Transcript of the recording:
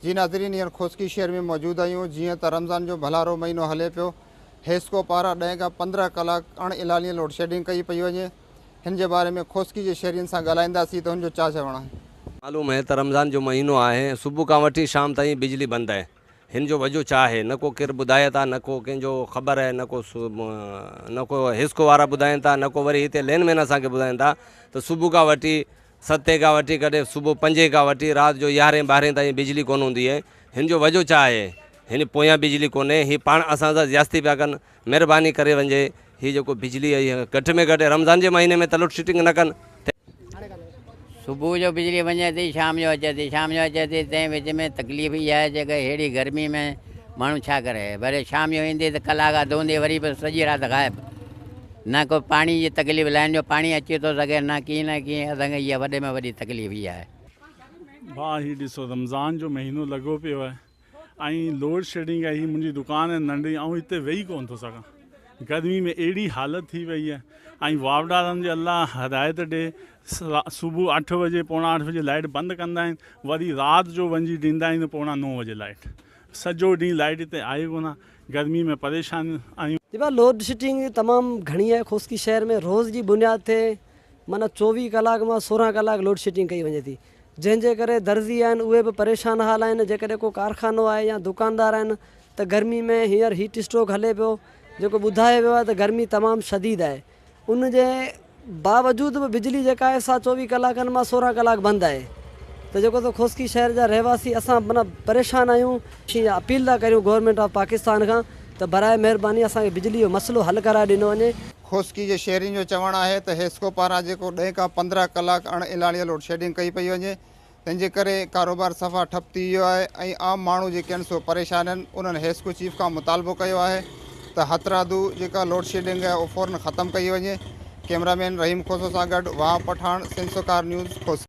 جي ناظرين هينئر خوسڪي شهر ۾ موجود آهيون جيئن ته رمضان جو ڀلارو مهينو هلي پيو حيسڪو پاران ڏهين کان پندرهن ڪلاڪ اڻ اعلانيه لوڊشيڊنگ ڪئي پئي وڃي، هن جي باري ۾ کوسڪي جي شهرين سان ڳالهائينداسين ته هن جو ڇا چوڻ آهي. معلوم هي ته رمضان جو مهينو آهي ۽ صبح کان وٺي شام تائين بجلي بند آهي، هن جو وجهه ڇا آهي نه ڪو ڪير ٻڌائي ٿا نه ڪو ڪنهن جو خبر آهي نه ڪو نه ڪو حيسڪو وارا ٻڌائين ٿا نه ڪو وري هتي لين مين اسان کي ٻڌائين ٿا ته صبح کان وٺي ستين کان وٺي ڪڏهن صبح پنجين کان وٺي رات جو يارهين ٻارهين تائين بجلي ڪونه هوندي آهي، هن جو وجهه ڇا آهي. هن پويان بجلي ڪونهي هي پاڻ اسان سان زياستي پيا ڪن مھرباني ڪري ونجي هي جيڪو بجلي اهي گهٽ ۾ گهٽ رمضان جي مهيني ۾ ته لوڊ شيٽنگ نه ڪن تنهن صبح جو بجلي وڃي ٿي شام جو اچي ٿي شام جو اچي ٿي تنهن وچ ۾ تڪليف اها آهي جيڪا اهڙي گرمي ۾ ماڻهو ڇا ڪري وري شام جو ايندي ته ڪلاڪ اڌ هوندي وري به سڄي رات غائب نه ڪو پاڻي جي تڪليف لائين جو پاڻي اچي ٿو سگهي نه ڪيئن نه ڪيئن اسان کي اها وڏي ۾ وڏي تڪليف اها آهي. ڀاء هي ڏسو رمضان جو مهينو لڳو پيو آهي. ۽ لوڊ شيڊنگ آهي، هي منهنجي دڪان آهي ننڍي، آئون هتي ويهي ڪونه ٿو سگهان، گرمي ۾ اهڙي حالت ٿي وئي آهي، ۽ واوڊارن جي الله هدايت ڏي، صبح اٺ بجي پوڻا اٺ بجي لائيٽ بند ڪندا آهن، وري رات جو وڃي ڏيندا آهن پوڻا نو بجي لائيٽ، سڄو ڏينهن لائيٽ هتي آهي ڪونه، گرمي ۾ پريشان آهيون. جي ڀاء لوڊ شيٽنگ تمام گهڻي آهي خوسڪي شهر ۾ روز جي بنياد تي معنيٰ چوويهه ڪلاڪ مان سورهن ڪلاڪ لوڊ شيٽنگ ڪئي وڃي ٿي جنهن جي ڪري درزي آهن اهي به پريشان حال آهن جيڪڏهن ڪو ڪارخانو آهي يا دڪاندار آهن ته گرمي ۾ هينئر هيٽ اسٽروڪ هلي پيو جيڪو ٻڌايو ويو آهي ته گرمي تمام شديد آهي ان جي باوجود به بجلي جيڪا آهي سا چوويهه ڪلاڪن مان سورهن ڪلاڪ بند آهي ته جيڪو ته خوسڪي شهر جا رهواسي اسان منا پريشان آهيون شين اپيل ٿا ڪريون گورنمينٽ آف پاڪستان کان ته برائي مهرباني اسان کي بجلي جو مسئلو حل ڪرائي ڏنو وڃي. خوسڪي جي شهرين جو چوڻ آهي ته حيسڪو پاران جيڪو ڏهين کان پندرهن ڪلاڪ اڻ الاڻيء لوڊ شيڊنگ ڪئي پئي وڃي تنهن جي ڪري ڪاروبار صفا ٺپ ٿي ويو آهي ۽ عام ماڻهو جي ڪن سو پريشانين انهن حيسڪو چيف کان مطالبو ڪيو آهي ته هٿرادو جيڪا لوڊ شيڊنگ آهي اهو فورن ختم ڪئي وڃي ڪيمرا مين رحيم کوسو سان گڏ وهاب پٺاڻ سنڌ سرڪار نيوز خوسڪي.